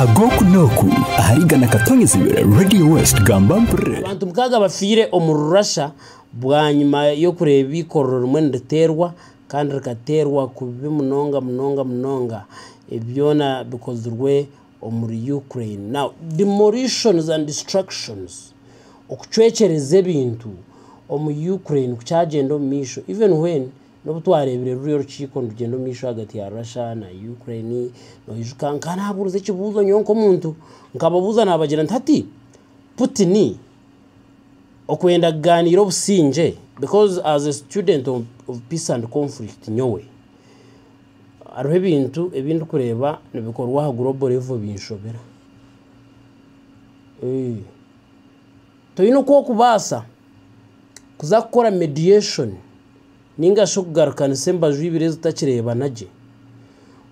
ag'oku n'oku ahari igana katonye zibiri Radio West gamba mpurire. Abantu mukaaga bafiire omu rurasha bwanyima y'okureeba eikorero rimwe niriteerwa kandi rikateerwa kubi munonga munonga munonga byona bikozirwe omuri Ukraine. Now demolitions and destructions okucwekyereza ebintu omu Ukraine kukyagyenda omumaisho even when. N'obu twareebire ruri orukiiko nirugyenda omu maisho ahagati ya Russia na Ukraine, noijuka nkaba naabuuriza ekibuuzo nyowe nk'omuntu, nkababuuza naabagira nti hati Putin okwenda kugaaniira obusingye because as a student of of peace and conflict nyowe hariho ebintu ebi ndikureeba nibikorwa aha global level binshobera. Toine ku okubaasa kuza kukora mediation ninga shi okugarukanisa embaju ibiri ezitakireebana gye.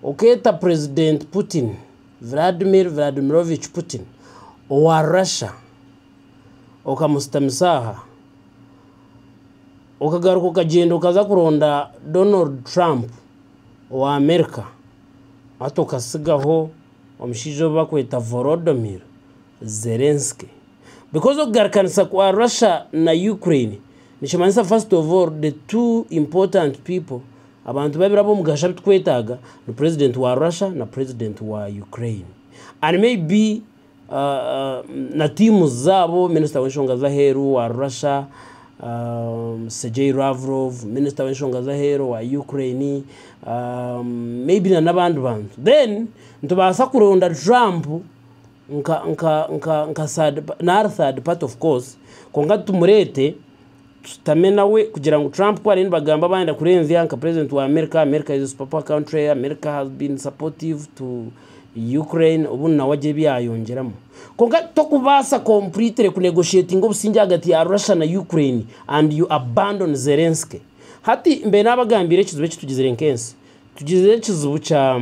Okeeta Purezidenti Putin, Vladimir Vladimirovich Putin, owa Russia, okamushutamisa aha. Okagaruka okagyenda okaza kuronda Donald Trump owa Amerika, hati okatsigaho omushaija ou barikweta Volodomir Zelensky. Because okugarukanisa kwa Russia na Ukraine nikimanyisa first of all the two important people abantu babiri abomugasho abitukwetaaga ni president wa Russia na president wa Ukraine and maybe uh, uh, na teams zaabo minister w'enshonga z'aheeru wa Russia um, Sergei Lavrov minister w'enshonga z'aheeru wa Ukraine um, maybe na n'abandi bantu then nitubaasa kuronda Trump nka nka nka nka third party nari third party of course kwonka tumurete tushutame nawe kugira ngu Trump ku ariyo nibagamba abandi akurenzya nka president wa America, America is a super power country, America has been supportive to Ukraine obu nawe agye byayongyeramu kwonka tokubasa completely ku negotiatinga obusingye ahagati ya Russia na Ukraine and you abandon Zelensky hati mbiire nabagambira ekizibu ekitugizire nka ensi tugizire ekizibu kya.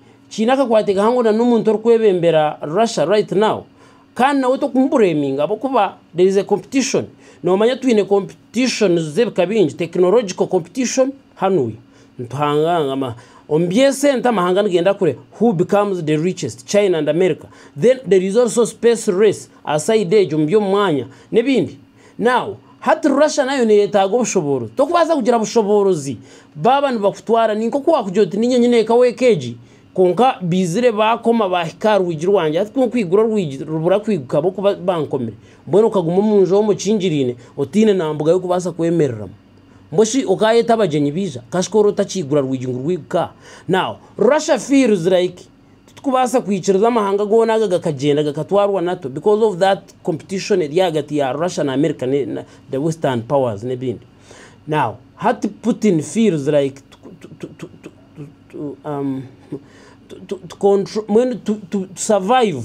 Kiine akakwate kahango na n'omuntu orikwebembera Russia right now kandi nawe tokumuburaminga ahabw'okuba there is a competition. Noomanya twine competitions z'ebika bingi, technological competition hanuya nituhangangana. Omu by'esente amahanga nigenda kure who becomes the richest, China and America. Then there is also space race aha side egyo omu by'omu mwanya n'ebindi. Now, hati Russia nayo neyetaaga obushoboorozi. Tokubaasa kugira bushoboorozi baaba nibakutwara. Ni nk'oku waakugira oti niinye nyine eka weeka egi, kwonka baizire baakoma baahika aha rwigi rwangye. Hati ku nkwigura orwigi rubura kwiiguka ahabw'okuba bankomire. Mbwenu okaguma omu nju omu okingiriine, otaine na mbuga y'okubaasa kwemereramu. Mbwenu shi okaayeta abagyenyi baija? Kashika ori otakiigura rwigi ngu rwiiguke aha? Now, Russia feels like. Titukubaasa kwikiriza amahanga goona aga gakagyenda gakatwarwa nato because of that competition eri ahagati ya Russia na America ne the western powers nebindi now hati Putin feels like mbwenu to survive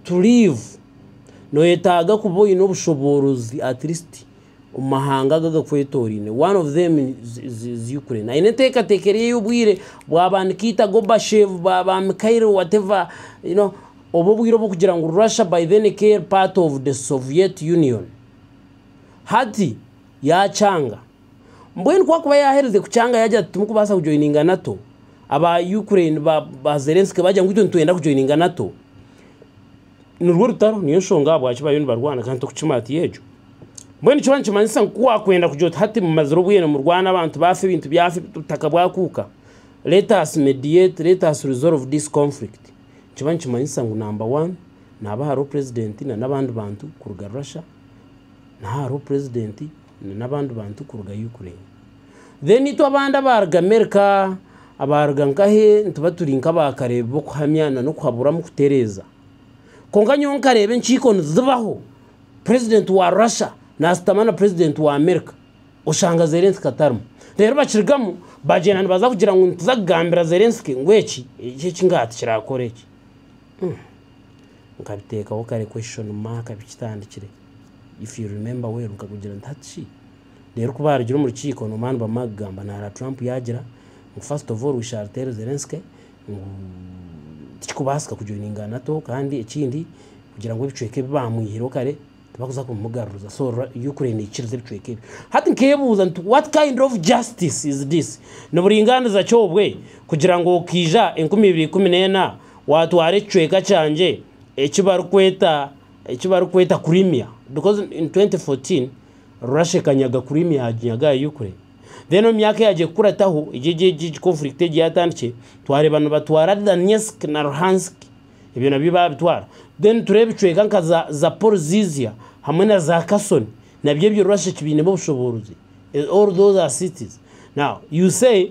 to live noyetaaga kuba oyine obushoboorozi at least omu mahanga aga agakwetoraine. One of them is Ukraine. Aine enteekateeka eri ey'obwire bwaba nikaita Gorbachev, baba Mikhail whatever, you know, obu obwire obw'okugira ngu Russia by then ekaeri part of the Soviet Union. Hati yakyanga. Mbwenu ku akuba yaherize kukyanga yagira ati timukubaasa kujoininga NATO, aba Ukraine ba Zelensky bagira ngu itwe nitwenda kujoininga NATO. nirwo rutaro niyo nshonga ahabwaki bariyo nibarwana kandi torikukima hati egyo. Mbwenu nikyo nikimanyisa ngu ku waakwenda kugira oti hati mumazire obwire nimurwana abantu baafa ebintu byafa obutaka bwakuuka let us mediate let us resolve this conflict nikiba nikimanyisa ngu number one naaba hariho purezidenti na n'abandi bantu kuruga Russia naaba hariho purezidenti na nabandi bantu kuruga Ukraine then itwe abandi abaruga America abaruga nkahe nituba turi nka ba kareebi bokuhamya na nokuhaburamu kutereeza konka nyowe nkareeba enkiiko nizibaho president wa Russia nasitama na president wa America oshanga Zelensky atarimu reero bakirugamu bagyenda nibaza kugira ngu nituza kugambira Zelensky ngu eki eki ngaha tikirakora eki nkabiteekaho kare question mark bikitandikire. if you remember well nkakugira nti hati reero ku baarugire omu rukiiko noba nibamara kugamba naara Trump yaagira ngu first of all we shall tell Zelensky ngu tikikubaasika kujoininga NATO kandi ekindi kugira ngu ebicweka ebi baamwihireho kare tibakuza kumugaruriza so ra- Ukraine neikiriza ebicweka ebi hati nkebuuza nti what kind of justice is this niburingaaniza ki obwe kugira ngu okiija enkumi ibiri ikumi n'ena waatwara ekicweka kyangye eki barikweta Eki barikweta Crimea because in 2014 Russia ekanyaga Crimea yaginyaga aha Ukraine then omu myaka eyagye kukurataho egi egi egi egi conflict egi yatandikire twareeba nibatwara Donetsk na Luhansk ebyo nabyo babitwara then tureeba ebicweka nka za Zaporizhzhia hamwe na za Kherson nabyo ebyo Russia ekibainemu obushoboorozi all those are cities now you say